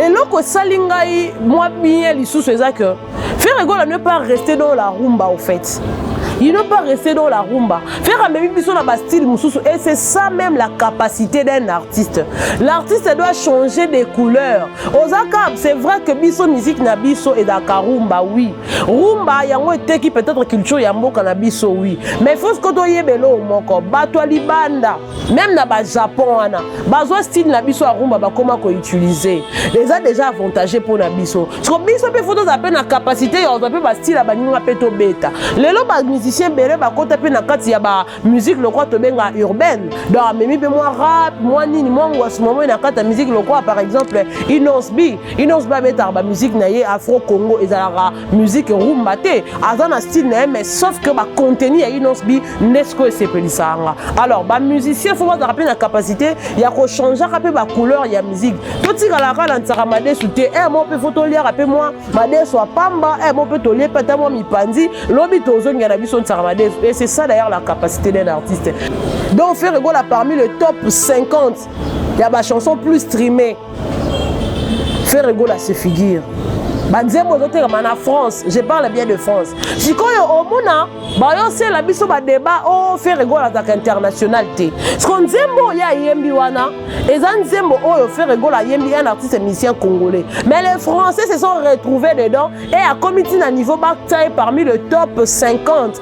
eloko esali ngai mwa bien lisusu eza que ferre gola ne pas rester dans la rumba au fait il ne pas rester dans la rumba ferre amemi biso na bastyle mosusu et c'est ça même la capacité d'un artiste l'artiste doit changer des couleurs ozaka c'est vrai que biso musique na biso ezalaka rumba oui rumba yango eteki peut-être culture ya mboka na biso oui mais faut sikoyo toyeba eloo moko bato ya libanda meme na ba japon wana bazwa style na biso ya rumba bakoma koutilize eza deja avantage mpo na biso siko biso mpe fo tozala mpe na kapasité ya kozwa mpe bastyle ya baninga mpe tobeta lelo bamusicien ebele bakota mpe na kati ya bamusike lokola tobenga urbaine donc amemi mpe mwa rap mwa nini mwa ngwasi mwa moi na kati ya musike lokola par exemple inosb inosb abetaka bamusike na ye afro congo ezalaka musique rumba te aza na style na ye mais sauf que bacontenu ya inosbi nde sikoyo esepelisaka nga alors bamusicien fo bazalaka mpe na capacité ya kochangeaka mpe bacouleur ya musique totikalaka na nsaka madesu te e mo mpe fo toliaka mpe mwa madesu ya pamba e mo mpe tolie mpe ata mwa mipanzi lobi tozongia na biso nsaka madesu et c'est ça d'ailleurs la capacité d'un artiste donc ferre egola parmi le top 50 ya bachanson plus streamé Ferre Gola se figure banzembo ezotekama na france je parle bien de france sikoyo omona bayosela biso badeba o oh, fere gola azalaka international te siko nzembo oyo ayembi wana eza nzembo oyo fere gola ayembi un artiste musicien congolais mais les français se sont retrouvés dedans et akomi ti na niveau batia ye parmi le top 50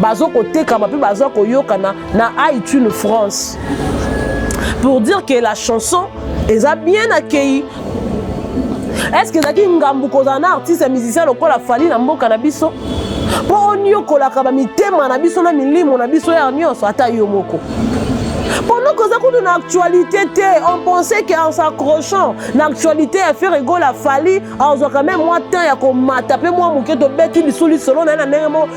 bazo kotekama mpe baza koyokana na iTunes France pour dire que la chanson eza bien accueilli est-ce que ezalaki ngambu kozala na artiste ya musicien lokola fali na mboka na biso mpo oniokolaka bamitema na biso na milimo na biso ya nyonso ata yo moko pendant koza kutu na actualité te on pensait que en s'accrochant na actualité ya faire egola fali azwaka meme mwa temps ya komata mpe mwa moke tobeti lisu lisolo na ye na ndenge moko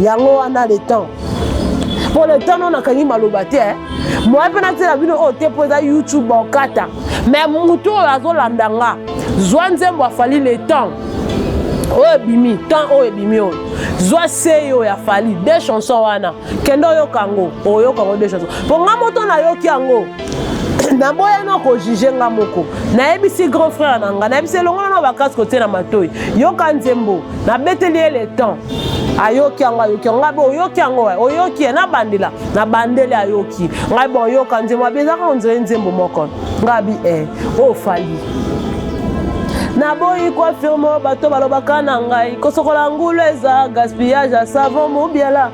yango wana le temps mpo le temps no nakangi maloba te eh. moye mpe natyela bino oyo te mpo eza youtube okata me motu oyo azolanda nga zwa nzembo afali le temps oyo ebimi temps oyo ebimi oyo zwa sei oyo ya fali de chanson wana kende oyoka yango oyoka yango de chanson mpo nga moto nayoki yango naboya no kojuge nga moko nayebisi grand frère na nga nayebisi elongola na bakaske otie na matoi yoka nzembo nabeteli ye le temps ayoki yango ayoki yango ngai bo oyoki yango wa oyoki ye nabandela nabandeli ayoki ngai bo oyoka nzembo abi ezaka onzele nzembo moko ngai abi e eh, oyo oh, fali naboyi koafirme bato balobaka na ngai kosokola ngulu eza gaspillage ya savon mobiala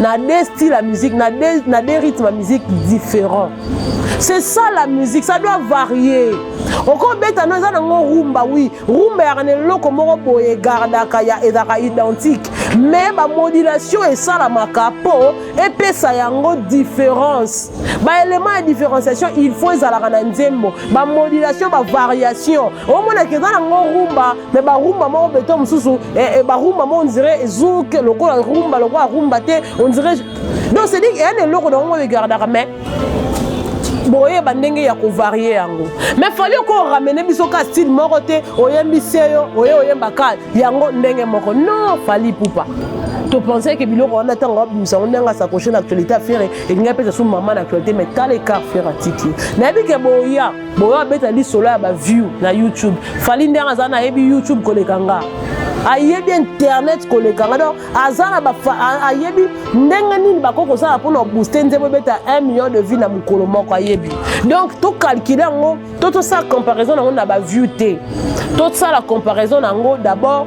na deux style ya musique na deux, na deux rythme ya musique différent c'est ça la musique ça doit varier okobeta no eza nango rumba wi rumba yaka na eloko moko boye egardaka ya ezalaka identique mais bamodulation esalamaka mpo epesa yango différence baélément ya différenciation il faut ezalaka na nzembo bamodulation bavariation omonaka eza nango rumba me barumba moko beton mosusu eh, eh, barumba mo ondire ezoke lokola rumba lokola rumba te ondire donc cedi eya na eloko na yango egardaka mais boyeba ndenge ya kovarie yango mais fali oko oramene biso ka style moko te oyembi seyo oye oyemba ka yango ndenge moko non fali pupa topensai ke biloko wana ntango abimisa yango ndenge asakoche na actualité ya fere elingai mpe sasu mama na actualité mais tala ekar fere atiki nayebi ke boya boyo abeta lisolo ya baview na youtube fali ndenge aza na ayebi youtube koleka nga ayebi internet koleka nga donc aza na ayebi ndenge nini bakoki kosala mpona obooste nzembo ebeta 1 million de vie na mokolo moko ayebi donc tokalkile yango to tosala comparaison na yango na baview te tosala comparaison na yango d'abord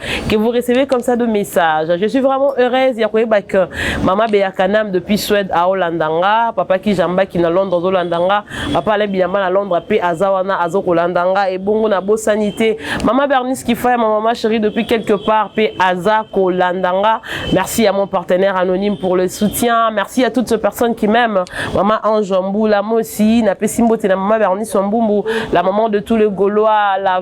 que vous recevez comme ça de messages. Je suis vraiment heureuse ya koyeba que maman Bea Kanam depuis Suède à Hollandanga, papa qui jamba qui na Londres aux Hollandanga, papa la bilamba na Londres pe azawana azo Hollandanga et bongo na bo sanité. Maman Bernice qui fait ma maman chérie depuis quelque part pe aza Hollandanga. Merci à mon partenaire anonyme pour le soutien. Merci à toutes ces personnes qui m'aiment. Maman Ange Mboula moi aussi na pesimbote na maman Bernice Mbumbu, la maman de tous les Gaulois, la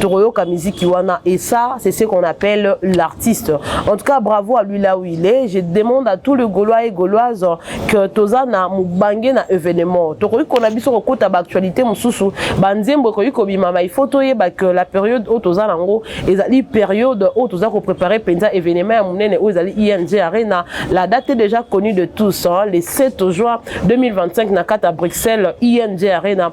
tokoyoka miziki wana et ça c'est ce qu'on appelle l'artiste en tout cas bravo à lui là où il est je demande à tout le gaulois et gauloise que toza na mobange na événement tokoki kona biso kokota baactualité mosusu banzembo ekoki kobimama il faut toyeba que la période oyo toza nango ezali période oyo toza koprépare mpenza événement ya monene oyo ezali ing arena la date est déjà connue de tous hein, le 7 juin 2025 na kati ya bruxelles ing arena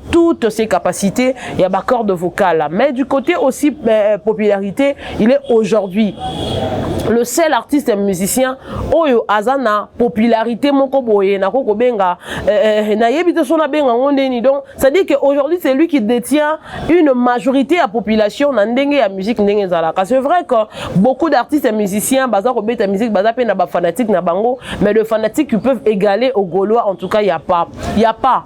toutes ses capacités, il y a ma corde vocale. Mais du côté aussi euh, popularité, il est aujourd'hui le seul artiste musicien oyo azana popularité moko boye na koko benga euh, euh, na yebi te sona benga ngondeni donc ça dit que aujourd'hui c'est lui qui détient une majorité à population na ndenge ya musique ndenge zalaka c'est vrai que beaucoup d'artistes musiciens baza ko beta musique baza pe na ba fanatiques na bango mais le fanatique qui peuvent égaler au gaulois en tout cas il y a pas il y a pas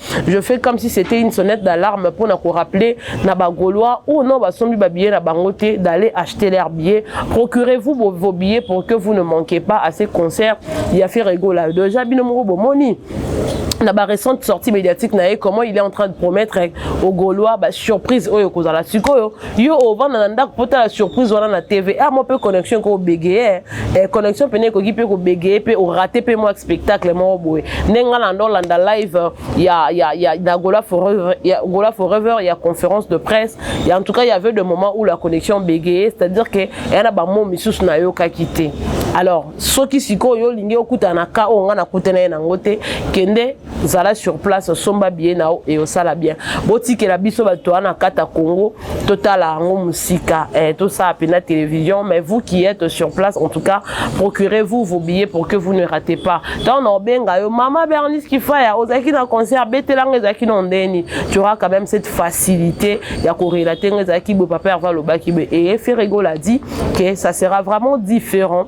je fais comme si c'était une sonnette d'alarme mpo na korappeler na bagaulois ou non basombi babillet na bango te d'aller acheter leur billet procurez-vous vos, vos billets pour que vous ne manquez pas à ces concerts ya ferregola déjà bino moko bomoni na ba récente sortie médiatique na ye comment il est en train de promettre aux gaulois ba surprise oyo kozala sikoyo yo ovanda na ndako mpo tala surprise wana na tv a ah, mwa mpe connexion ekoki obegeye eh, connexion mpene ekoki mpe kobegeye mpe orate mpe mwa spectacle moko boye nde ngai na ndolanda live euh, ya, ya, ya, na gola forever ya, gola forever ya conférence de presse ya en tout cas y avait de moment où la connexion bégayait c'est à dire que eya na bamo misusu nayokaki te alors soki sikoyo olingi okutana na ka oyo ngai nakutana ye nango te kende zala sur place osomba biye na yo eyosala bien botikela biso bato wana kata congo totala yango mosika eh, tosala mpena télévision mais vous qui êtes sur place en tout cas procurez vous vos billets pour que vous ne ratez pas ntango na obenga yo mama bernice kifaya ozalaki na concert betelanga ezalaki na ndeni tu auras quand même cette facilité ya korelate nga ezalaki boye papa herve alobaki boye eye ferregola dit que ça sera vraiment différent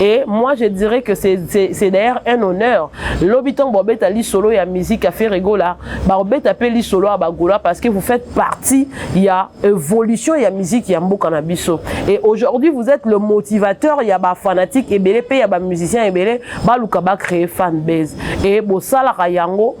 Et moi, je dirais que c'est d'ailleurs un honneur. L'habitant Bobeta li solo ya musique à faire rigola. Bobeta pe li solo à Bagola parce que vous faites partie ya évolution ya musique ya Mboka na biso. Et aujourd'hui, vous êtes le motivateur ya ba fanatique et belé pe ya ba musicien et belé ba luka ba créer fan base. Et bo sala yango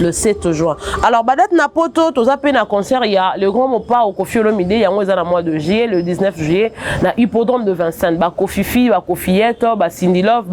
le 7 juin alors badate na poto toza mpe na concert ya le grand mopao kofi olomide yango eza na mois de juillet le 19 juillet na hippodrome de vincent bakofifi bakofiyete basindilove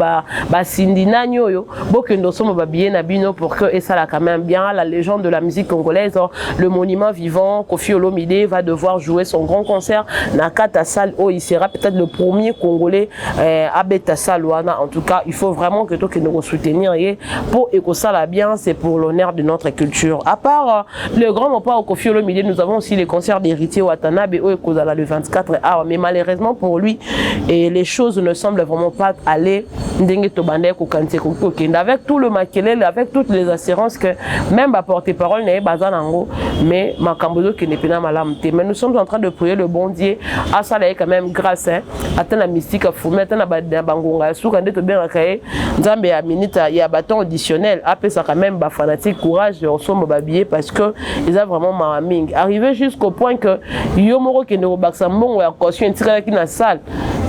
basindi ba nani oyo bokende osomba babillet na bino pour que esala quand même bien la légende de la musique congolaise le monument vivant kofi olomide va devoir jouer son grand concert na kata salle oyo il sera peut-être le premier congolais eh, abeta salle wana en tout cas il faut vraiment que tokende kosoutenir ye mpo ekosala bien c'est pour l'honneur de notre culture à part euh, le grand mopa okofi olomide nous avons aussi les concerts d'héritier watanabe oyo ekozala le 24 awa mais malheureusement pour lui et les choses ne semblent vraiment pas aller ndenge tobandaki kokanisa ekoki kokende avec tout le makelele avec toutes les assurances que même baporte parole na ye baza nango mais makambo ezokende mpena malamu te mais nous sommes en train de prier le bon dieu asala ye quand même grâce hein? ata na misika fumi ata na bangonga ya suka nde tobengaka ye nzambe ya minute ya baton auditionnel apesaka meme bafanatique courage ya osomba babillet parce que eza vraiment mawa mingi arrive jusqu'au point que yo moko kende kobakisa mbongo ya caution etikalaki na salle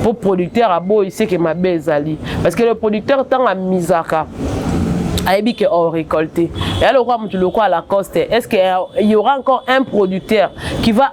mpo producteur aboyi seke mabe ezali parce que le producteur ntango amizaka ayebi ke au récolté eya lokola motu lokola lacoste est ce que il y aura encore un producteur qui va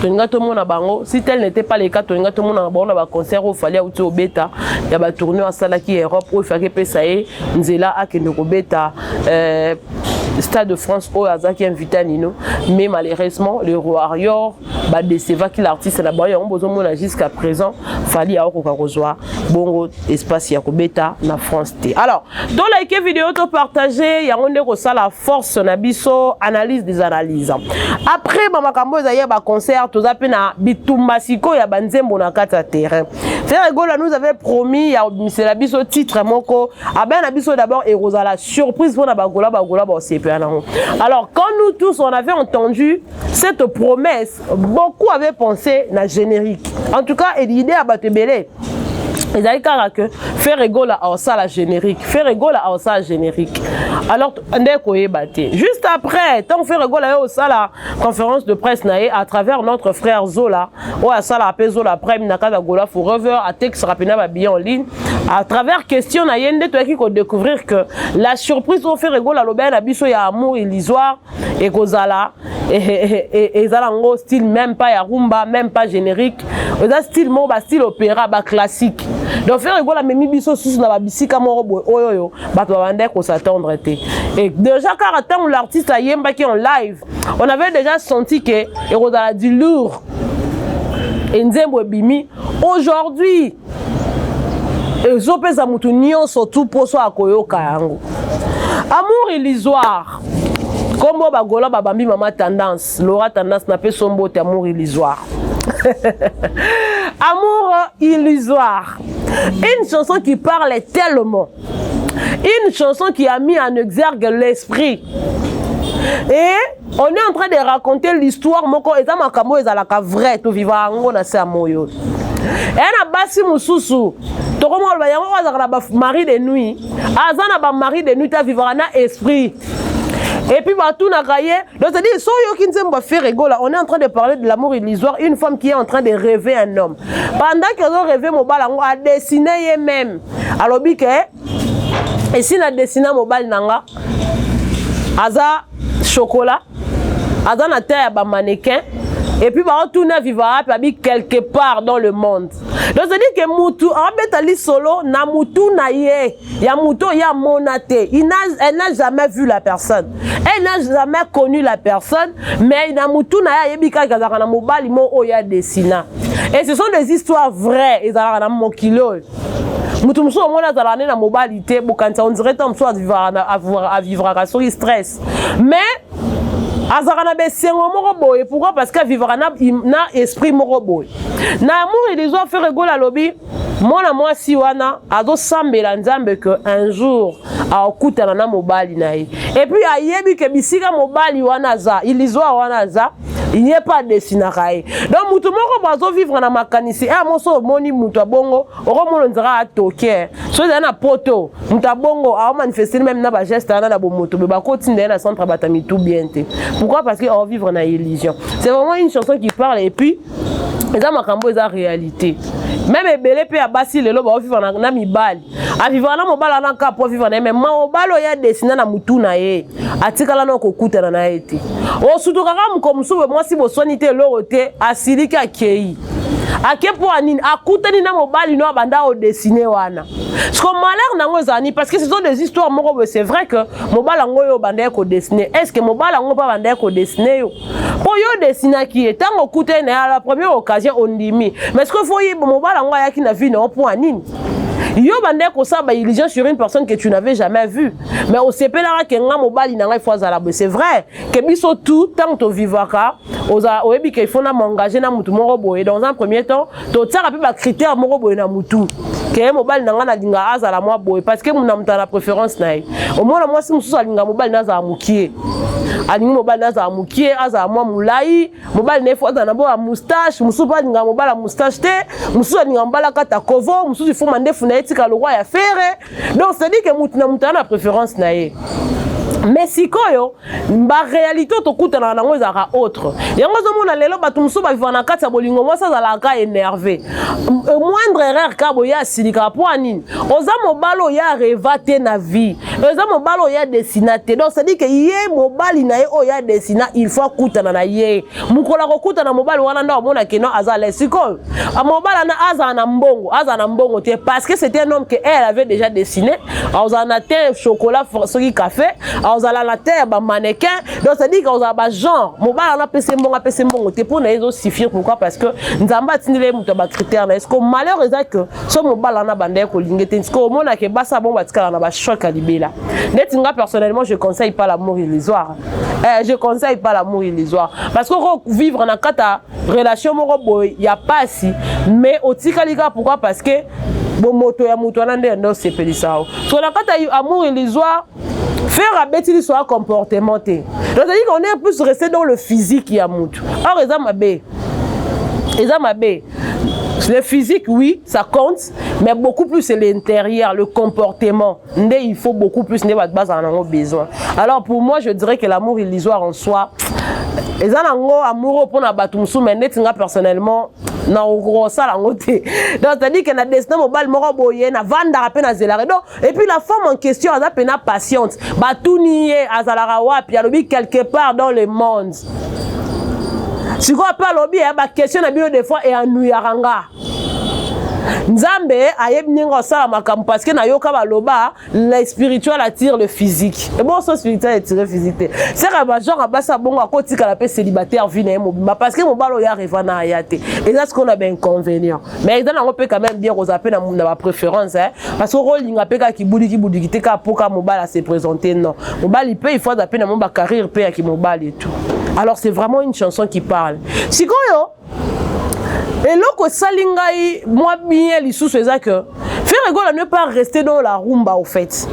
tolinga tomona bango si tel n'était pas le cas tolinga tomonaka bango na baconcert oyo fali auti obeta ya batourne oyo asalaki ya europe oyo efaki epesa ye nzela akende kobeta euh, stade de france oyo azalaki invité ya nino mais malheureusement le warrior badecevaki l'artiste na bango yango bozomona jusqu'à présent fali aokoka kozwa bongo espace ya kobeta na France te. Alors, to like vidéo to partager yango nde kosala force na biso analyse des analyses. Après ba makambo ezali ya ba concert toza pe na bitumba siko ya ba nzembo na kati ya terrain. Ferre Gola nous avait promis ya misela biso titre moko abana na biso d'abord et la surprise pour na ba Gola ba Gola ba osepela nango. Alors, quand nous tous on avait entendu cette promesse beaucoup avait pensé na générique en tout cas idée ya bato ebele ezali kaka ke ferre gola aosala générique ferre gola aosala générique alors nde koyeba te juste après ntango ferre gola ye osala conférence de presse na ye à travers notre frère zola oyo asalaka mpe zola prime na kati ya gola forever atekisaka mpena babillet en ligne à travers question na ye nde toyaki kodécouvrir que la surprise oyo ferre gola alobaki na biso ya amour illusoire ekozala ezala yango style même pas ya rumba même pas générique eza style moko ba style opéra ba classique donc ferre egola amemi biso susu na babisika moko boye oyo oyo bato babandaki kosatendre te e déjà kaka ntango l'artiste ayembaki en live on avait déjà senti ke ekozala du lourd enzembo ebimi aujourd'hui ezopesa motu nyonso tu mposo ya koyoka yango amour illusoire kombo bagola babambi mama tendance lora tendance na pe sombo te amour illusoire amour illusoire une chanson qui parle tellement une chanson qui a mis en exergue l'esprit et on est en train de raconter l'histoire moko eza makambo oyo ezalaka vrai tovivaka yango na se ya moi oyo eya na basi mosusu tokomona loba yango oyo azalaka na bamari de nuit aza na bamari de nuit avivaka na esprit epuis batunaka ye donc cetadire so oyoki nzembo ya ferregola on est en train de parler de l'amour illusoire une femme qui est en train de rêver un homme pendant que ozo rêve mobala yango adessine ye même alobi ke esi na desina mobali na nga aza chocolat aza na ta ya bamanequin epuis baotuna viva wapi abi quelque part dans le monde donc cedi ke mutu aobeta lisolo na mutu na ye ya mutu oyo amona te elle n'a jamais vu la personne elle n'a jamais connu la personne mais na mutu na ye ayebi kaka azalaka na mobali moko oyo ya desina et ce sont des histoires vraies ezalaka na mokili oyo moto mosusu omoni azalaka nde na mobali te bokanisa on dirait ntango mosusu avivraka soki stress mais azalaka na besengo moko boye pourquoi parce que avivaka na, na esprit moko boye na amour ilizo afere egola alobi mwana mwasi wana azosambela nzambe ke un jour akokutana na mobali na ye epuis ayebi ke bisika mobali wana aza ilizoa wana aza il n'y a pas destinaka ye donc moto moko bazovivre na makanisi e amo so omoni moto ya bongo okomona nzaka atoke so ezali na poto moto ya bongo aomanifestele meme na bageste wana na bomoto boye bakotinda ye na centre bata mitu bien te pourquoi parce que aovivre na illusion c'est vraiment une chanson qui parle et puis eza makambo eza réalité meme ebele mpe ya basi lelo baovivre na, na mibali avivaka na mobali wana kaka mpo aviva na ye me mobali oyo adesina na motu na ye atikala na kokutana na ye te osutuka kaka mokolo mosusu boye mwasi boswani te eloko te asiliki akei ake mpo ya nini akutani na mobali no abanda odesine wana siko malheur na yango ezala nini parce que ce sont des histoires moko boye c'est vrai que mobali yango oyo obandaki kodesine est ce que mobali yango mpe abandaki kodesine yo mpo yo odesinaki ye ntango okutani na ye la première occasion ondimi mais sikoyo fo mobali yango ayaki na vie na yo mpo ya nini yo bandaki kosala ba illusion sur une personne que tu n'avais jamais vue mais osepelaka ke nga mobali na ngai fo azala boye c'est vrai ke biso tout ntango tovivaka oyebi ke ifo na m'engage na motu moko boye dans un premier temps totiaka mpe bacritère moko boye na motu ke mobali na ngai nalinga azala mwa boye parce que na moto na préférence na ye omona mwasi mosusu alinga mobali na azala mokie alingi mobali azala mokie azala mwa molai mobali na ye fo azala na boya moustache mosusu mpe alingaka mobala moustache te mosusu alingaka mobala kata kovo mosusu ifo mandefu na ye tika lokwa ya fere donc cestadire ke motu na motu aza na préférence na ye me sikoyo baréalité oyo tokutanaka nango ezalaka autre yango ozomona lelo bato mosusu bavivaka na kati ya bolingo mwasi azalaka ka énerve euh, moindre erreur ka boye asilikaka mpo ya nini oza mobali oyo areva te na vie eza mobali oyo ya desina te donc cestadi ke ye mobali na ye oyo ya desina il faut akutana na ye mokolo akokutana na mobali wana nde omona keno aza le sikoyo ah, mobali ana azala na mbongo azala na mbongo te parce que c'était un homme que elle avait déjà dessiné akozala na te chocolat soki café akozala na te ya bamanequin donc cestadi ke akozala bagenre mobali wana apesi mbongo apesi mbongo te mpo na ye ezosifire pourquoi parce que nzambe atindeli ye moto ya bacritère na ye siko malheur eza que so mobali wana banda ye kolinge te sikoyo omona ke basi abongo batikala na bachoc ya libela ndeti nga personnellement je conseille pas l'amour illusoire eh, je conseille pas l'amour illusoire parce que oko vivre na kati ya relation moko boye ya pasi mais otikali kaka pourquoi parce que bomoto ya moto wana nde nde osepelisa yo so na kati ya amour illusoire faire abeti liso ya comportement te tozali qu'on est plus resté dans le physique ya motu or eza mabe eza mabe Le physique, oui, ça compte, mais beaucoup plus c'est l'intérieur, le comportement. Il faut beaucoup plus de base en a besoin. Alors pour moi, je dirais que l'amour illusoire en soi, et ça, amoureux pour la bateau, mais net, personnellement, na okosala yango te donc c'est-à-dire que na destin mobali moko boye navandaka mpe nazelaka donc Et puis la femme en question, elle a pena patiente. Batuni ye, azalara wapi, alobi quelque part dans le monde. sikoyo mpe alobi ya bakestion na bino de fois eyanuyaka nga nzambe ayebi ndenge osala makambo parce que nayoka baloba le spirituel attire le physique eboso spirituel attire physique te seka bagenre basi ya bongo akotikala mpe célibataire vie na ye mobimba parce que mobali oyo areva na aya te eza sikoyo na bainconvénient mais eza nango mpe quand même bien kozala mpe na ba préférence hein? parce que okolinga mpe kaka kibudikibudiki te kaka mpo kaka mobali ase présente non mobali mpe il faut aza mpe na mo bacarrière mpe ya kimobali et tout alors c'est vraiment une chanson qui parle sikoyo eloko esali ngai mwa bien lisusu eza que ferregola ne pas rester dans la rumba au fait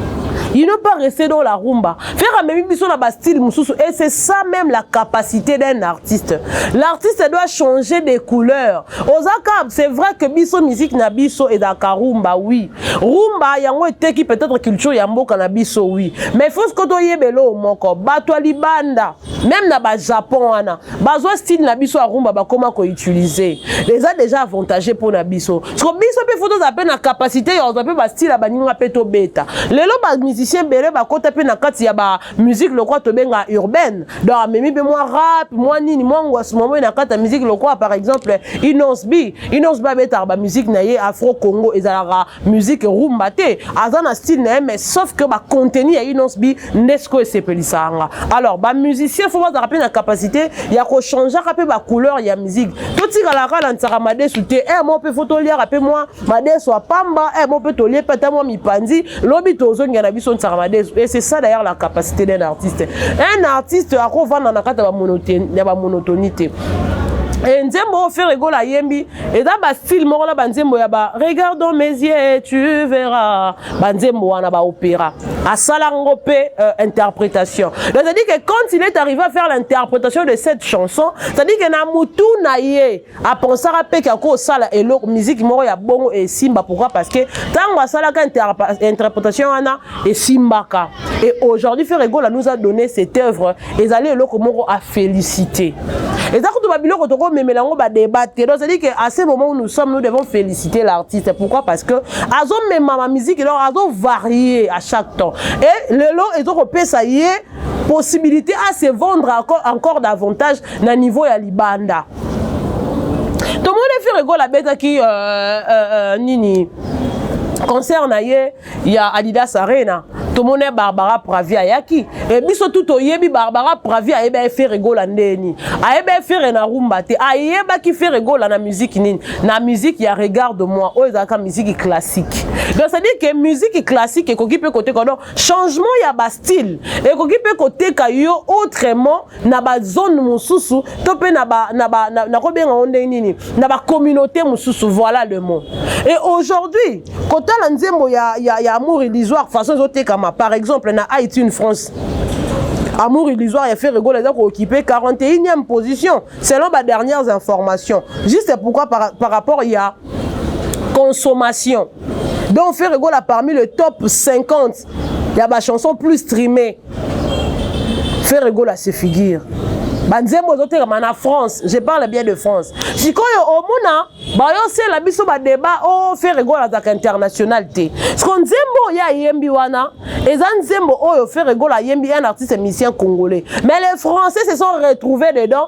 il ne pas rester dans la rumba faire amemi biso na bastyle mosusu et c'est ça même la capacité d'un artiste l'artiste doit changer des couleurs oza cab c'est vrai que biso musique na biso ezalaka rumba oui rumba yango eteki peut-être culture ya mboka na biso oui mais faut siko toyeba eloo moko bato ya libanda même na bajapon wana bazwa style na biso ya rumba bakoma koutilize eza déjà avantage mpo na biso siko biso mpe fo tozala mpe na capacité ya kozwa mpe bastyle ya baninga mpe tobeta lelo bamusicien ebele bakota mpe na kati ya ba musique lokola tobenga urbaine donc amemi mpe mwa rap mwa nini mwa ngwasu mwa moi na kati ya musique lokola par exemple inons b inons b abetaka bamusike na ye afro congo ezalaka musique rumba te aza na style na ye mais sauf que bacontenu ya inons b nde sikoyo esepelisaka nga alors bamusicien fo bazalaka mpe na capacité ya kochangeaka mpe bacouleur ya musique totikalaka na nsaka madesu te e eh, mwa mpe fo toliaka mpe mwa Madesu à pamba, eh mon peut tolie pas moi mi pandi, lobby tozo ngana biso nsaka madesu. Et c'est ça d'ailleurs la capacité d'un artiste. Un artiste à quoi va dans la carte ba monotonité. Eh, nzembo oyo fere egola ayembi eza bastyle moko na banzembo ya ba regardons mes yeux tu verras banzembo wana baopéra asala ngo mpe euh, interprétation c'est-à-dire que quand il est arrivé à faire l'interprétation de cette chanson c'est-à-dire que na mutu na ye apensaka mpe ke akosala eloko miziki moko ya bongo esimba pourquoi parce que ntango asalaka interpretation wana esimbaka et aujourd'hui frère egola nous a donné cette œuvre ezali eloko moko a félicité eza kutu babiloko tokomemela yango badeba te donc cestadire que à ce moment où nous sommes nous devons féliciter l'artiste pourquoi parce que azomema ma musique eloko azovarie à chaque temps et lelo ezokopesa ye possibilité à se vendre encore, encore davantage na niveau ya libanda tomoni fere gola abetaki euh, euh, euh, nini concert na ye ya adidas arena tomoni ye barbara pravi ayaki e biso tu toyebi barbara pravi ayeba ye fere gola ndeni ayeba ye fere na rumba te ayebaki fere gola na miziki nini na miziki ya regard de moi oyo ezalaka miziki classique donc c'est-à-dire que miziki classique ekoki mpe koteka donc changement ya ba style ekoki mpe koteka yo autrement na ba zone mosusu to mpe na ba na ba nakobenga ngo ndenge nini na ba communauté mosusu voilà le mot et aujourd'hui kotala nzembo ya ya, ya amour illusoire façon ezotekama par exemple na iTunes France Amour illusoire ya Ferre Gola eza kookipe 41e position selon ba dernières informations juste pourquoi par, par rapport ya consommation donc ferre gola parmi le top 50 ya bachanson plus streamé ferre gola se figure banzembo ezotekama na france je parle bien de france sikoyo omona bayosela biso badeba o oh, ferre gola azalaka international te siko nzembo oyo ayembi wana eza nzembo oyo ferre gola ayembi un artiste musicien congolais mais les français se sont retrouvés dedans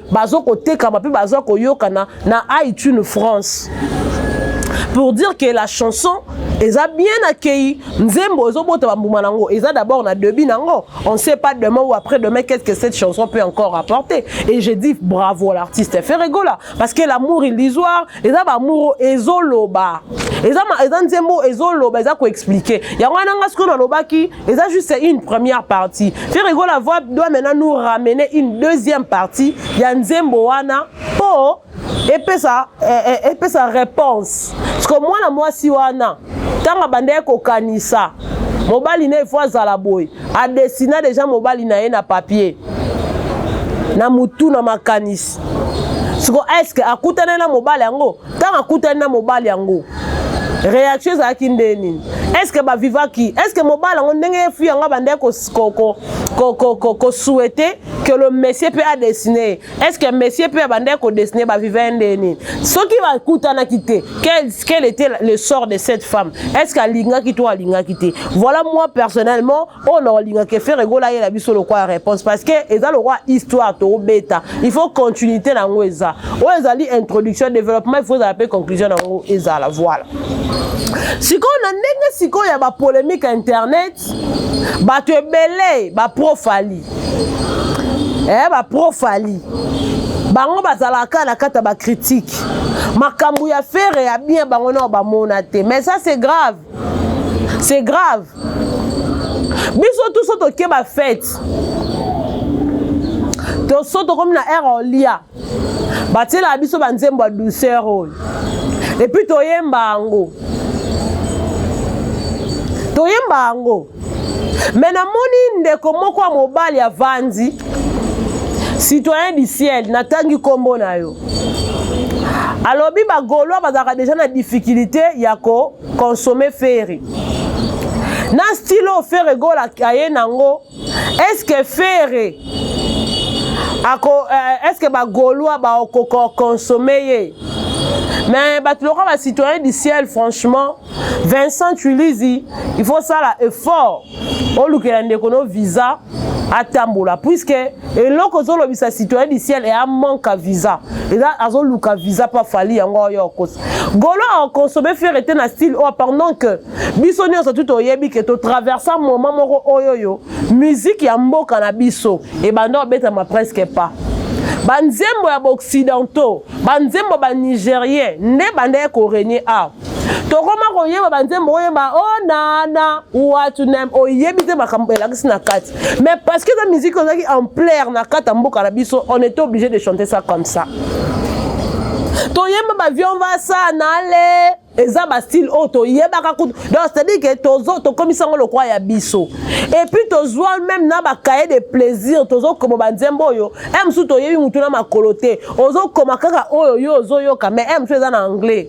bazo kotekama mpe baza koyokana na iTunes France pour dire que la chanson eza bien accueilli nzembo ezobota bambuma nango eza d'abord na debut nango on sait pas demain ou après demain qu'est-ce que cette chanson peut encore apporter et je dis bravo à l'artiste Ferregola parce que l'amour illusoire eza bamour ezoloba eza eza nzembo ezoloba eza koexplike yango wana nga sikoyo nalobaki eza juste une première partie ferre gola voix doit maintenant nous ramener une deuxième partie ya nzembo wana mpo epesa eh, eh, epesa réponse parce que mwana mwasi wana ntango abandaki kokanisa mobali na efo azala boye adesina deja mobali na ye na papier na motu na makanisi siko eske akutana na mobali yango ntango akutani na mobali yango réaction ezalaki nde nini est ce que bavivaki est ce que mobali yango ndenge ye fille yango abandaki kosouhaite que le monsieur mpe adessine ye est ce que monsieur mpe abandaki kodessine baviva ye nde nini soki bakutanaki te quel était le sort de cette femme est ce que alingaki to alingaki te voilà moi personnellement oyo na olinga ke ferre gola yela biso lokola réponse parce que eza lokola histoire tobeta il faut continuité na yango eza oyo ezali introduction développement il faut ezala mpe conclusion na yango ezala voilà sikoyo na ndenge sikoyo ya bapolémique ya internet bato ebele baprofali eh, baprofali bango bazalaka na kati ya bakritike makambo ya fere ya bien bango nao bamona te mais ça c'est grave c'est grave biso tout so toke ba fete to so tokomi na aire olia batielaka biso banzembo ya douceur oyo epuis toyemba yango toyemba yango me namoni ndeko moko ya mobali avandi citoyen du ciel natangi nkombo na yo alobi bagolois bazalaka deja na difficulté ya kokonsome feri na style oyo fere gola aye nango eske fere ako euh, eske bagolois bakokokonsome ye mais bato lokola bacitoyen du ciel franchement Vincent Chulizi, il faut sala effort olukela ndeko no visa atambola puisque eloko ozolobisa citoyen du ciel eya manque ya visa eza azoluka visa mpo afali yango oyo okosa golo aconsomme fere te na style oyo pendant que biso nyonso tu toyebi ke totraversa moment moko oyoyo miziki ya mboka na biso ebanda obetama presque pas banzembo ya baoccidentaux banzembo banigérien nde bandaki koregne awa tokoma koyeba banzembo oyeba o oh, nana watunem oyebi te makambo elakisi na kati mais parce que eza musique ozalaki ampleur na kati ya mboka na biso on était obligé de chanter ça comme ça toyemba bavion vasa nale eza bastyle oyo toyebaka kutu donc c'est-à-dire ke tokomisa yango lokwa ya biso epuis tozwa meme na bakaye de plaisir tozokoma banzembo oyo e mosusu toyebi motu na makolo te ozokoma kaka oyo yo ozoyoka mais e mosusu eza na anglais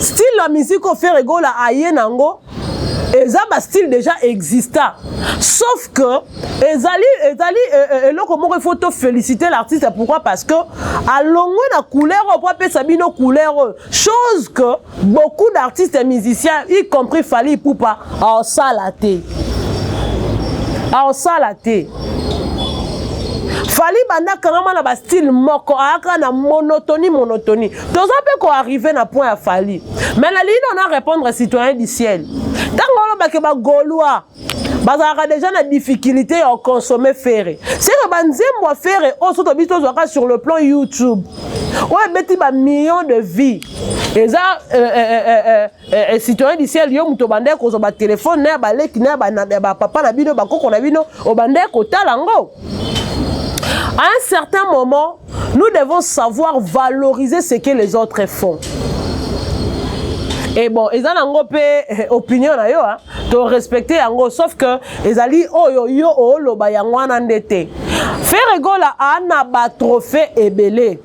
style ya musique oyo Ferre Gola aye nango eza ba style déjà exista sauf que ezali ezali euh, euh, eloko moko il faut to féliciter l'artiste pourquoi parce que alongwe na couleur oyo mpo apesa bino couleur oyo chose que beaucoup d'artistes musiciens y compris Fally Ipupa aosala te aosala te fali banda kangama na bastyle moko ayaka na monotonie monotonie toza mpe ko arrive na point ya fali mais nalingi nao na répondre citoyen du ciel ntango olobake bagaulois bazalaka deja na difficulté ya oconsomme fere seke banzembo ya fere oyo so tobi tozwaka sur le plan youtube oyo ebeti bamillion de vie eza euh, euh, euh, Eh, eh, citoyen du ciel yo moto obandaki kozwa batelefone na ya baleki na ya bapapa na bino bakoko na bino obandaki kotala yango à un certain moment nous devons savoir valoriser ce que les autres font e bon eza nango mpe eh, opinion na yo hein? to respecte yango sauf que ezali oyo yo oloba yango wana nde te ferre gola ana batrophée ebele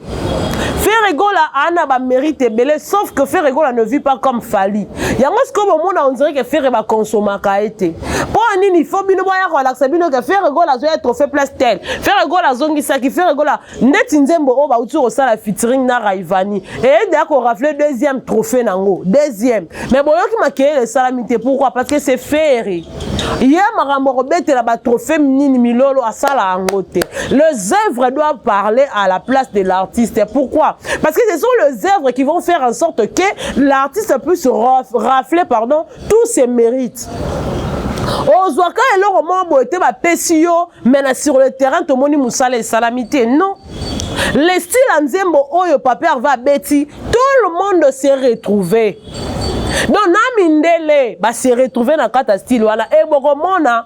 Ferre Gola ana ba mérite ebele sauf que Ferre Gola ne vit pas comme Fally. Yango sikoyo bomona on dirait que Ferre ba consommaka ye te. Mpo ya nini faut bino boya kolakisa bino ke Ferre Gola azoya trophée place tel. Ferre Gola azongisaki Ferre Gola ndeti nzembo oyo bauti kosala featuring na raivani eyede ya korafle deuxième trophée nango deuxième mais boyoki makelele esalami te pourquoi parce que c'est fere ye makambo akobetela batrophée nini milolo asala yango te les œuvres doivent parler à la place de l'artiste pourquoi parce que ce sont les œuvres qui vont faire en sorte que l'artiste puisse rafler pardon tout se mérite ozwaka eloko moko boye te bapesi yo mais na sur le terrain tomoni mosala esalami te non le style ya nzembo oyo papa herve abeti tout le monde se retrouve donc na mindele base retrouve na kati ya style wana e bokomona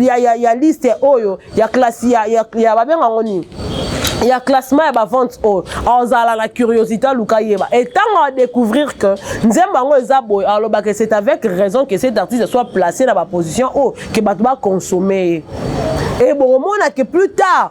ya, ya, ya liste oyo ya klasi ya, ya, ya babenga ngo nini ya classement ya bavente oyo azala na curiosité aluka yeba e ntango adécouvrir que nzembo yango eza boye alobaka c'est avec raison que cet artiste soit placé na baposition oyo ke bato baconsomme ye e bokomona ke plus tard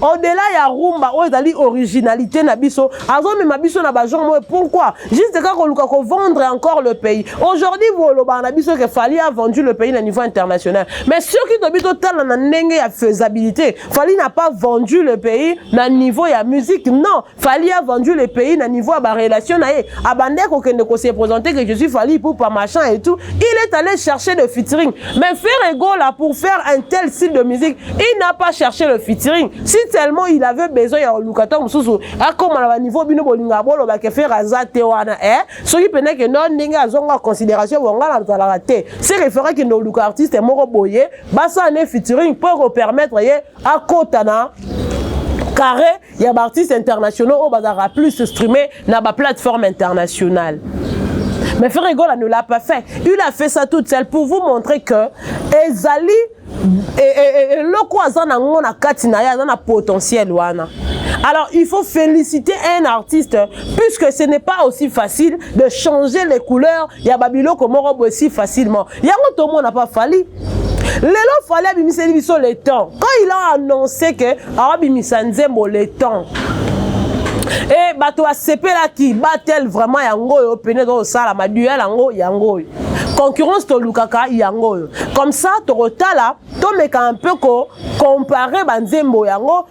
Au-delà ya rumba oyo ezali originalité na biso, azomema biso na ba genre moyo pourquoi? Juste kaka koluka ko vendre encore le pays. Aujourd'hui bolobaka na biso que Fally a vendu le pays na niveau international. Mais soki tobi totala na ndenge ya faisabilité, Fally n'a pas vendu le pays na niveau ya musique. Non, Fally a vendu le pays na niveau ya ba relation na ye abandaki kokende ko se présenter que je suis Fally Ipupa machin et tout il est allé chercher le featuring mais Ferre Gola pour faire un tel style de musique il n'a pas cherché le featuring si tellement il avait besoin ya koluka ntango mosusu akoma na baniveau bino bolingaka boloba ke Ferre aza te wana e eh? soki mpena ke no ndenge azonga considération bonga na zalaka te se refere kende oluka artiste moko boye basala ne featuring mpo ekopermettre ye akota na carré ya baartiste internationaux oyo bazalaka plus streame na baplateforme internationale mais frère egola ne l'a pas fait il a fait ça toute seule pour vous montrer que ezali eloko aza na ngo na kati na ye aza na potentiel wana Alors, il faut féliciter un artiste, puisque ce n'est pas aussi facile de changer les couleurs. Il y a Babylon comme aussi facilement. yango tomona pa fali lelo fali abimiseli biso le temps quand il a annonce ke awabimisa nzembo le temps e eh, bato basepelaki batel vraiment yango oyo pene eza kosala maduel yango yango oyo concurrence tolukaka yango oyo comme ça tokotala tomeka un peu ko compare banzembo yango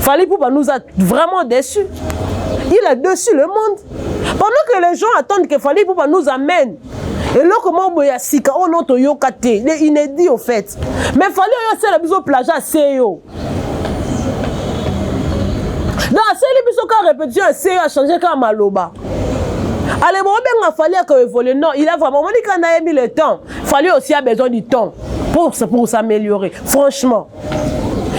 Fally Poupa nous a vraiment déçus. Il a déçu le monde. Pendant que les gens attendent que Fally Poupa nous amène eloko moko boye ya sika oyo no toyoka te le inédit au fait mais fali oyo asala biso plage ase yo donc asali biso kaka répétition ya seyo achange kaka maloba ale bobenga fali aka évolue non il a vraiment omoni kaka nayemi le temps fali aussi a besoin du temps pour, pour s'améliorer franchement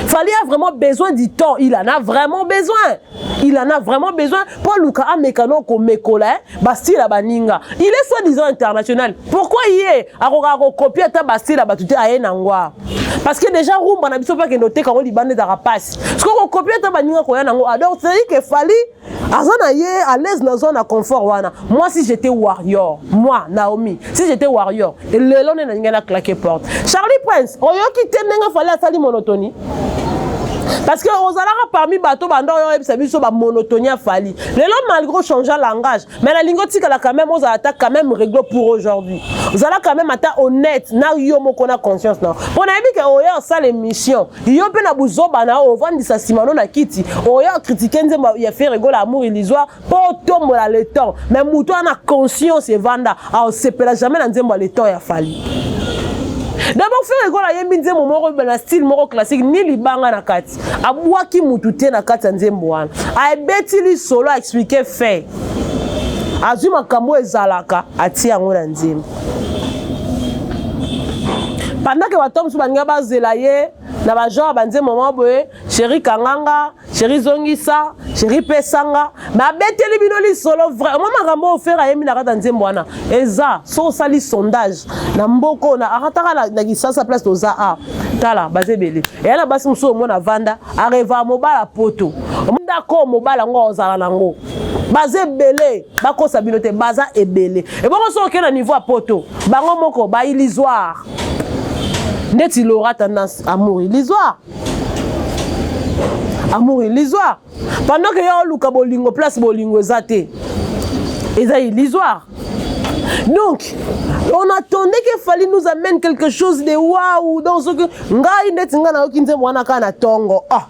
Fally a vraiment besoin du temps. Il en a vraiment besoin. Il en a vraiment besoin. Pour Luka a mécano ko mekola, hein? Bastila baninga. Il est soi-disant international. Pourquoi il est? Akoka ko copier ta Bastila batute aye nangwa. Parce que déjà rumba na biso pa kendo te kango libande da rapace. Ce qu'on copie ta baninga ko ya nango. Alors c'est que Fally aza na ye à l'aise na zone na confort wana moi si j'étais warrior moi Naomi si j'étais warrior lelo nde nalingi na claquer porte Charlie Prince oyoki te ndenge fale asali monotonie parce que ozalaka parmi bato banda oyo oyebisa biso bamonotonie afali lelo malgré ochange langage mais nalingi otikala quand même ozala ata quand même réglo pour aujourd'hui zala quand même ata honnête na yo moko na conscience na mpo nayebi ke oya osala émission yo mpe na buzoba na yo ovandisa nsima no na kiti oya okritike nzembo ya fe regola amour illusoire mpo otombola le temps mais moto wana conscience evanda aosepela jamais na nzembo ya le temps ya fali d'abord fe regola ayembi nzembo moko na style moko classique ni libanga na kati abwaki mutu te na kati ya nzembo wana abeti lisolo aexplike fait azwi makambo oyo ezalaka atie yango na nzembo pandake bato mosusu balinga bazela ye na bagenre ya banzembo mwa boye sheri kanganga sheri zongisa sheri pesanga babeteli bino lisolo vraiment makambo oyo fere ayembi na kati ya nzembo wana eza so osali sondage na mboka oyo akataka na kisasa place toza a tala baza ebele eya na basi mosusu omona avanda areva mobala poto ndako mobala yango ozala nango baza ebele bakosa bino te baza ebele ebongo soki okei na niveau ya poto bango moko bailisoire ndeti lora tendance amour ilisoire amour ilisoire pendant que yo oluka bolingo place bolingo eza te eza illusoire donc on attendait que fallait nous amène quelque chose de waouh donc soki ngai ndeti ngai nayoki nzembo wana kaka na tongo ah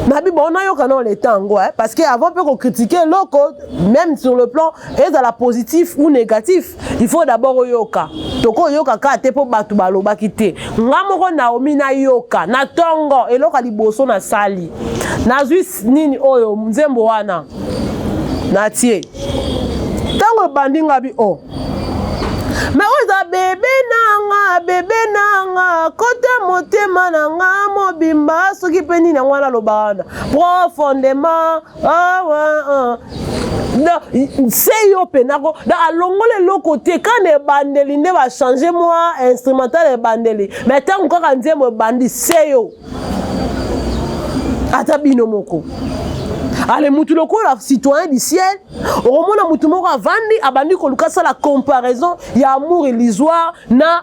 nabi bon nayoka nao leta yango eh? parce que avant mpe kocritiquer eloko même sur le plan ezala positif ou négatif il faut d'abord oyoka tokoyoka kaka te mpo bato balobaki te nga moko naomi nayoka na ntongo eloko ya liboso nasali nazwi nini oyo nzembo wana natie ntango ebandi nga bi o oh. me oyo eza bebe nanga bebe nanga kota motema na nga mobimba soki mpe nini yango wana aloba wana profondema Ah, ah, ah. se yo mpena ko alongola eloko te kana ebandeli nde bachange mwa instrumental ebandeli me ntango kaka nzembo ebandi se yo ata bino moko ale mutu lokola citoyen du ciel okomona mutu moko avandi abandi koluka asala comparaison ya amour illusoire na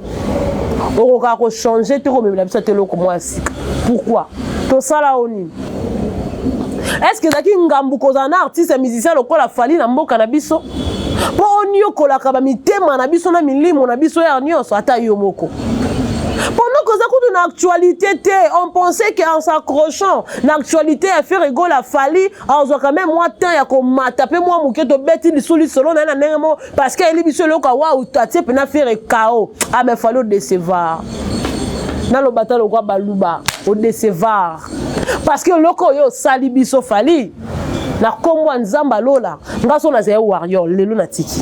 okokaka kochange te komemela biso ata eloko mwa ya sika pourkui tosala o nini estce ezalaki ngambu kozala na artiste ya musicien lokola fali na mboka na biso mpo oniokolaka bamitema na biso na milimo na biso yare nyonso ata yo moko pendant koza kutu na actualité te on pensait que en s'accrochant na actualité ya ferre egola fali azwaka meme mwa temps ya komata mpe mwa moke tobeti lisu lisolo na ye na ndenge moko parce que ayeli biso eloko awau atie mpena fere kao ame ah, fali odecevoir naloba ta lokwa baluba odecevoir parce que eloko oyo osali biso fali na nkombo ya nzambe alola ngai so nazali warrior lelo natiki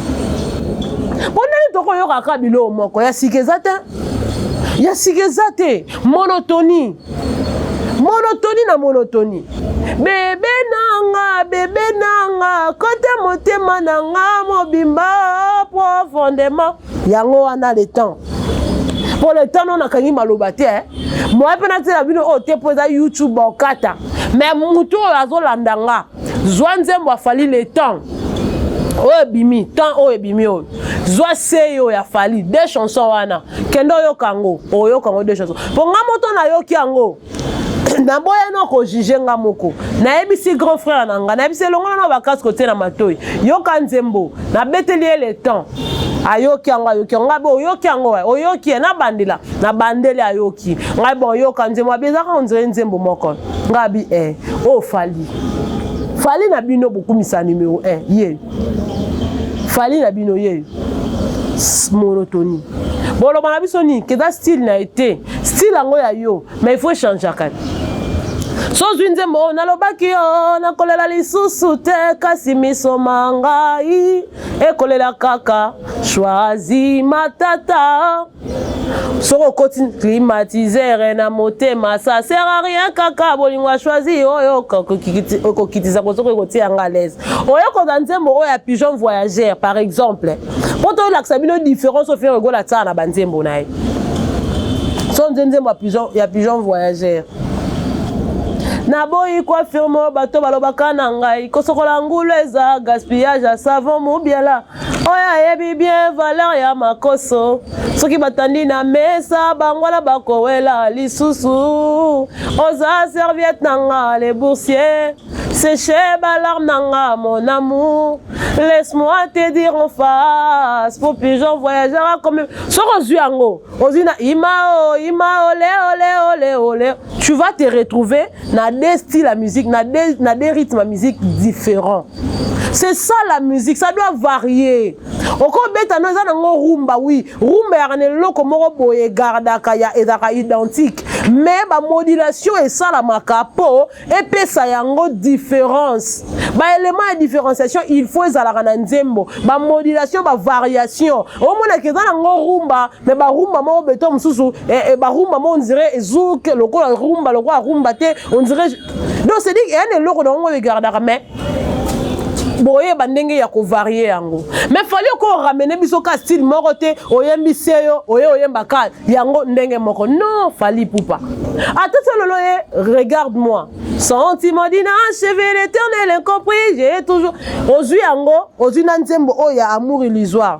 mpo ndenge tokoyokaka biloko moko ya sika eza te ya sika eza te monotonie monotoni na monotoni bebe nanga bebe nanga kote motema na nga mobimba profondément yango wana le temps mpo le temps no nakangi maloba te eh. moya mpe natyela bino oyo te mpo eza youtube okata me motu oyo azolanda nga zwa nzembo ya fali le temps oyo ebimi temps oyo ebimi oyo zwa seyo ya fali de chanson wana kende oyoka yango oyoka yango de chanson mpo nga moto nayoki yango naboya no kojuge nga moko nayebisi grand frère na nga nayebisi elongola na bakasi kotie na matoi yoka nzembo nabeteli ye le temps ayoki yango ayoki yango ngai bo oyoki yango wa oyoki ye nabandela nabandeli ayoki ngai bo oyoka nzembo abezaka ondire nzembo moko nga bi eh oh fali fali na bino bokumisa numero 1 ye fali na bino ye monotonie boloba na biso nini keza style na ye te style yango ya yo mais il faut echangeaka so ozwi nzembo oyo nalobaki yo nakolela lisusu te kasi miso ma ngai ekolela kaka shwazi matata soki okoti climatisere na motema ça sert à rien kaka bolingo ya choisi oyo okokitisa kosoki ekotia nga alaise oyokoza nzembo oyo ya pigeon voyageur par exemple mpo toyolakisa bino différence oyo fere egola tsala na banzembo na ye so nze nzembo ya pigeon voyageur naboyi koafirme oyo bato balobaka na ngai kosokola ngulu eza gaspillage ya savon mobiala oyo ayebi bien valeur ya makoso soki batandi na mesa bango wana bakowela lisusu oza serviette na nga le boursier séche balarme na nga mon amour laisse-moi te dire en face pour plus j'en voyagera comme soki ozwi yango ozwi na imao imao leoleoleoleo tu vas te retrouver na de style ya musique na de, na de rythme ya musique différent c'est ça la musique ça doit varier okobeta no eza nango rumba wi rumba yaka na eloko moko boye egardaka ya ezalaka identique mais bamodulation esalamaka mpo epesa yango différence baélément ya différenciation il faut ezalaka na nzembo bamodulation bavariation omonaka eza nango rumba me barumba moko beton mosusu eh, eh, barumba moko ondire ezuke lokola rumba lokola rumba te ondire donc cedi eya na eloko na yango egardaka mais boyeba ndenge ya kovarie yango mais fali oko oramene biso ka style moko te oyembi seyo oye oyemba ka yango ndenge moko non fali pupa ata ti lolo ye regarde moi sentiment dina cheve l'éternel incompris j'ai toujours ozwi yango ozwi na nzembo oyo ya amour illusoire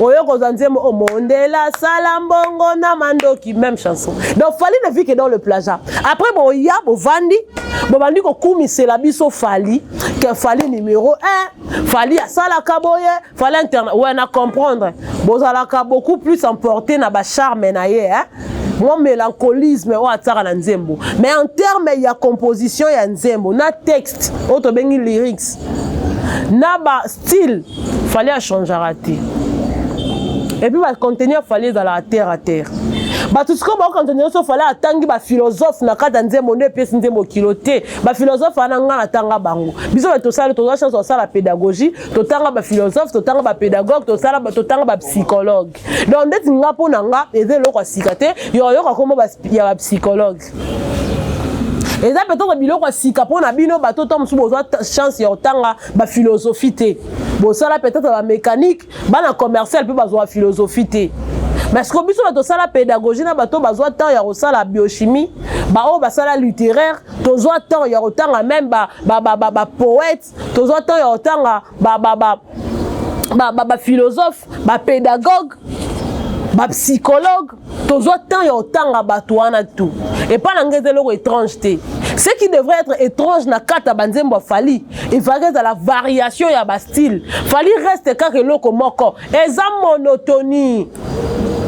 oyo kozwa nzembo o oh, mondela sala mbongo na mandoki même chanson donc fali ne vit que dans le plaza après boya bovandi bobandi kokumisela biso fali ke fali numéro 1 fali asalaka boye fali internet we ouais, na comprendre bozalaka beaucoup plus emporté na bacharme na ye hein? mwa mélancolisme oyo atiaka na nzembo mais en terme ya composition ya nzembo na texte oyo tobengi lyrics na ba style fallait a changeaka te et puis ba contenu ya fallait ezalaka terre à terre bato sikoyo baokanisa nyonso fale atangi bafilozofe na kati ya nzembo nde epesi nzembo kilo te bafilozofe wana ngai natanga bango biso bato tosali toza chance tosala pédagogie totanga bafilozofe totanga bapedagogue totanga bapsychologue donc ndeti ngai mpo na ngai eza eloko ya sika te yokayoka nkombo ya bapsychologue Afrique. eza peut-être biloko ya sika mpo na bino bato ntango mosusu bozwa chance ya kotanga baphilosophie te bosala peut-être bamécanique bana commercial mpe bazwa philosophie te mais siko biso bato tosala pédagogie na bato bazwa temps ya kosala biochimie baoyo basala littéraire tozwa temps ya kotanga meme bapoète tozwa temps ya kotanga baphilosophe bapédagogue bapsychologue tozwa temps ya otanga bato wana tout epai na ngai eza eloko étrange te ce qui devrait être étrange na kati ya banzembo ya fali efalaki ezala variation ya bastyle fali reste kaka eloko moko eza monotonie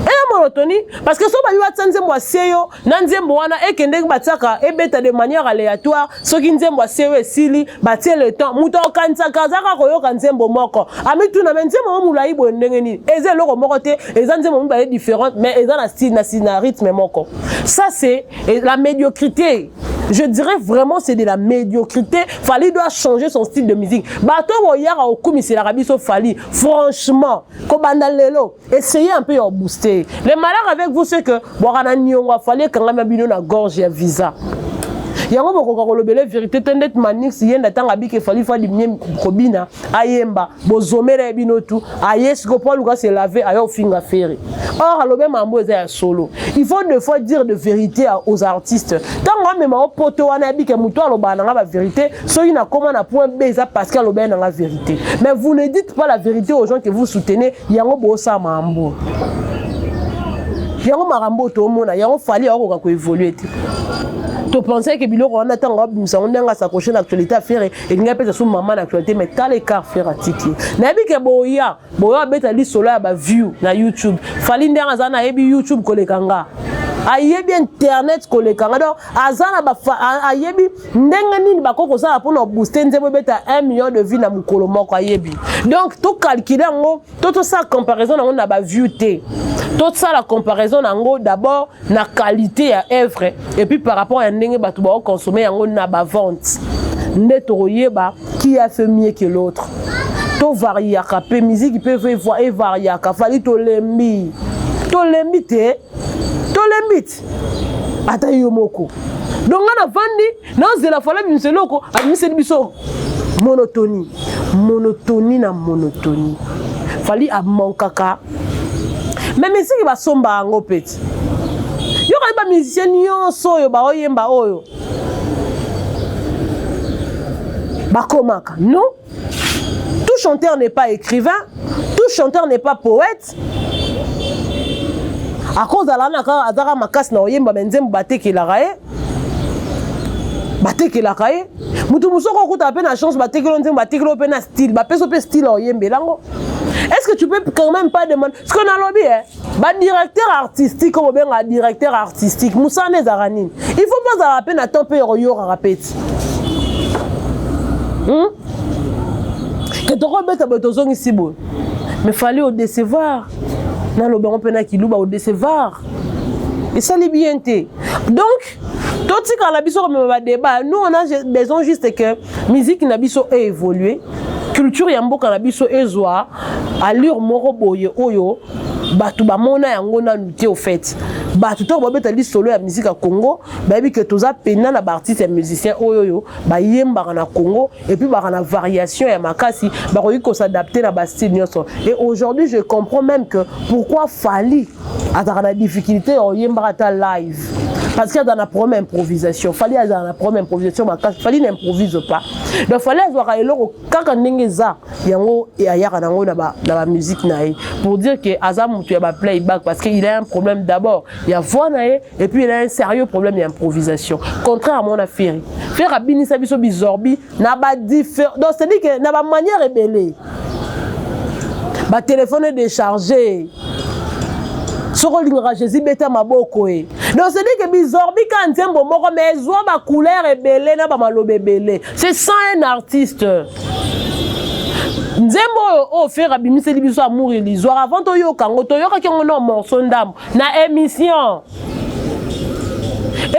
eza monotonie parce que so babi batya nzembo asie yo na nzembo wana ekendeki batyaka ebeta de manière aléatoire soki nzembo ya sewe esili batie le temps moto akokanisaka azalaka koyoka nzembo moko amituna me nzembo mo molai boye ndenge nini eza eloko moko te eza nzembo mibale différente mais eza na style na, na rythme moko ça c'est la médiocrité je dirais vraiment c'est de la médiocrité Fali doit changer son style de musique bato boyaka kokumiselaka biso Fali franchement kobanda lelo Essayez un peu ya booster. Le malheur avec vous c'est que bwaka na niongo afali ekangama bino na gorge ya visa. yango bokoka kolobela verité te ndeti manix ye nda ntango abiki efali fadi mie kobina ayemba bozomela ye bino tu aye siko mpo aluka se lave aye ofinga fere or alobi mambo eza ya solo il faut de fois dire de vérité aux artistes ntango amema o poto wana yabike motu alobaka na nga bavérité soki nakoma na point b eza parce que alobaki na nga vérité mais vous ne dites pas la vérité aux gens que vous soutenez yango bosa mambo yango makambo oyo tomona yango fali akokoka koevolue te topensai ke biloko wana ntango abimisa yango ndenge asakoche na actualité ya fere elingi apesa so mama na actualité mais tala ekart fere atiki nayebi ke boya boya abeta lisolo ya baview na youtube fali ndenge aza nayebi youtube koleka nga ayebi internet koleka nga donc aza na ayebi ndenge nini bakoki kosala mpona obooste nzembo ebeta 1 million de vie na mokolo moko ayebi donc tocalcule yango to tosala comparaison yango na baview te tosala comparaison na yango d'abord na qualité ya œuvre et puis par rapport ya ndenge bato baoconsomme yango na bavente nde tokoyeba qui a fait mieux que l'autre tovariaka mpe miziki mpe evariaka fali tolembi tolembi te tolembi te ata yo moko donc nga navandi nazela fala bimisa eloko abimiseli biso monotonie monotonie na monotonie fali amankaka me misiki basomba yango peti yokani bamusicien nyonso oyo baoyemba oyo bakomaka non Tout chanteur n'est pas écrivain, tout chanteur n'est pas poète. akozala na kaka azaka makasi na koyemba me nzembo batekelaka ye batekelaka ye motu mosusu oko okuta mpe na chance batekelo nzembo batekelo mpe na style bapeso mpe style oyembela yango est ce que tu peux quand même pas demander ce que nalobi e ba directeur artistique oyo bobenga directeur artistique mosala nde ezalaka nini il faut bazalaka mpe na temps mpe ya koyokaka peti hmm? ke tokobeta boye tozongisi boye mais fali odecevoir naloba yango mpe na kiluba odecevoir esali bien te donc musique. Totikala biso komema ba débat. Nous on a besoin juste que musique na biso e évoluer. Culture ya mboka na biso ezwa allure moko boye oyo bato bamona yango nanu te au fait bato ntango babeta lisolo ya miziki ya congo bayebi ke toza pena na baartiste ya musicien oyo oyo bayembaka na congo epuis baka na variation ya makasi bakoki kosadapte na bastyle nyonso et aujourd'hui je comprends même que pourquoi fali azalaka na difficulté ya oyembaka ata live parce que azala na problème improvisation fali azala na problème improvisation makasi fali na improvise pas donc fali azwaka eloko kaka ndenge eza yango ayaka nango na bamusike na ye pour dire que aza motu ya baplayback parce que il a un problème d'abord ya voix na ye et puis il a un sérieux problème ya improvisation contrairement na ferre ferre abinisa biso bizorbi na ba different donc c'est dit que na ba manière ebele ba téléphone déchargé soko olingaka jésus beta maboko e donc c'est dit que bizorbi ka nzembo moko mais ezwa ba couleur ebele na ba maloba ebele c'est sans un artiste nzembo oyo oyo fere abimiseli biso amour illusoire avant toyoka yango toyokaki yango na morceau ndambo na émission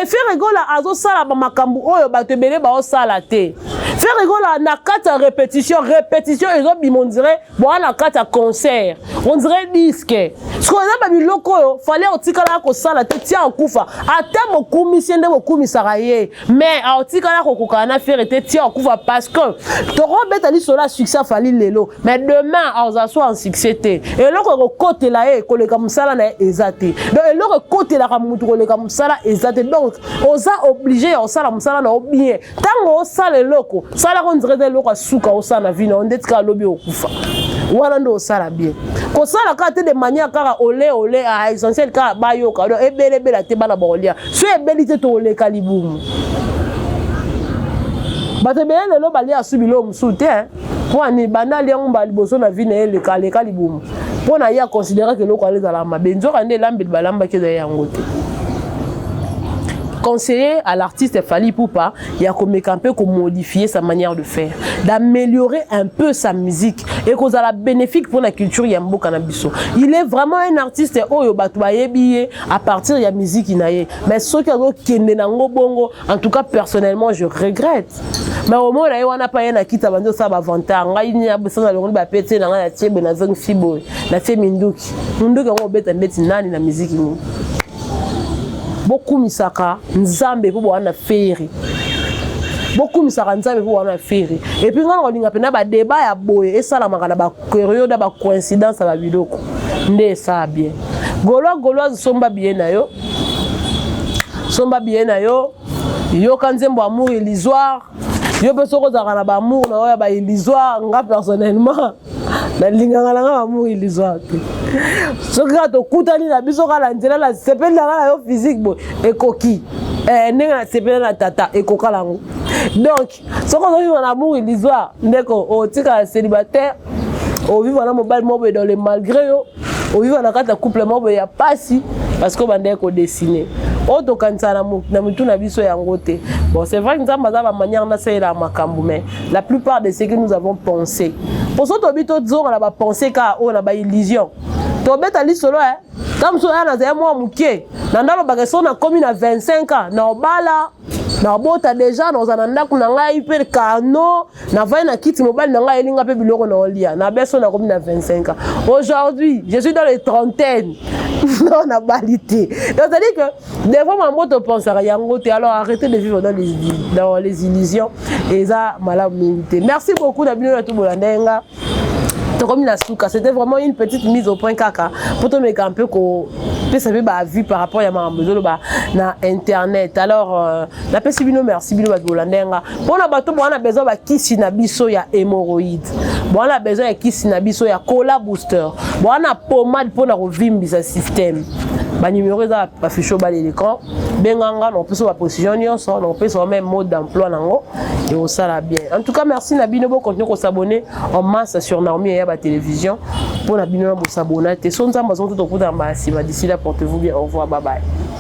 efere gola azosala bamakambo oyo bato ebele baosala te fere gola na kati ya répétition répétition ezobima ondire boa na kati ya concert ondire diske sikoyo eza babiloko oyo fale otikalaka kosala te tia okufa ata bokumisi ye nde bokumisaka ye mais aotikala kokokana na fere te ti akufa parce que tokobeta lisolo ya succès afali lelo mais demain akozala so en succès te eloko ekokotela ye koleka mosala na ye eza te donc eloko ekotelaka motu koleka mosala eza te donc oza oblige ya kosala mosala na yo bien ntango osala eloko salaka ondire eza eloko ya suka osala na vi na yo nde tika alobi okufa wana nde osala bien kosala kaka te de manière kaka ole ole a ah, essentiel kaka bayoka donc ebelebela te bana bakolia so ebeli te tokoleka libumu bato ebele lelo balia su biloko mosusu te mpo ani banda alia yango mbala liboso na vi na ye eleka aleka libumu mpo na ye akonsideraka eloko yango ezalaka mabe nzoka nde elambeli balambaki ezali yango te conseiller à l'artiste Fally Poupa ya komeka mpe ko modifier sa manière de faire d'améliorer un peu sa musique et kozala bénéfique pour la culture ya mboka na biso il est vraiment un artiste oyo bato bayebi ye à partir ya miziki na ye mais soki azokende nango bongo en tout cas personnellement je regrette mais omona ye wana pa ye na kita bandi osala bavantar ngai nini abosana alongoli bapete na ngai natie boye nazongisi boye natie minduki minduki yango obeta ndeti nani na miziki nini bokumisaka nzambe mpo bowana na feri bokumisaka nzambe mpo wana feri epuis ngai nakolinga mpena badeba ya boye esalamaka na periode ba coïncidence ba biloko nde ça bien golois goloise somba biye na yo somba biye na yo yoka nzembo amour illusoire yo mpe soki ozalaka na baamour na oyo ya baillusoire nga personnellement nalingaka na nga baamour illusoire te soki kaka tokutani na biso kaka na nzela na sepeli na nga na yo physique boye ekoki eh, ndenge na sepeli na tata ekokala yango donc soki ozovivre na amour illusoire ndeko otikala célibataire ovivre na mobali moko boye dans le malgré yo ovivre na kati ya couple moko boye ya mpasi parce que obandaki kodessine oyo tokanisa na mitu na biso yango te bon c'est vrai nzambe aza bamanière nasalela makambo mais la plupart de ce que nous avons pensé mpo so tobi tozonga na bapense kaka oyo na baillusion tobeta lisolo e ntango mosusu oya nazali mwa moke na ndalobaka so nakomi na 25 ans na obala nabota deja naoza na ndako na ngai mpe kano navandi na kiti mobali na ngai ayeli ngai mpe biloko na olia na beso nakomi na 25 ans aujourd'hui je suis dans les trentaine non nabali te tozali que devant mambo topensaka yango te alors arrête de vivre dans les, dans les illusions eza malamu mingi te merci beaucoup na bino na tobolanda ye nga tokomi na suka c'était vraiment une petite mise au point kaka mpo tomeka mpe kopesa mpe baavis par rapport ya makambo ezoloba na internet alors euh, napesi bino merci bino bato bolanda yanga mpo na bato bowana besoin bakisi na biso ya hémoroïde bowana besoin ya kisi na biso ya cola booster bowana pomade mpo na kovimbisa système banimero eza bafisho bale l'écran benganga na kopesa baposition nyonso na kopesa yo meme mode d'emploi nango ekosala bien en tout cas merci na bino bokontinue kosabone en masse sur naomi ya batelevizio mpo na bino na bosabona te so nzambe azongi tokutana mbala nsima d'ici là portez vous bien au revoir babaye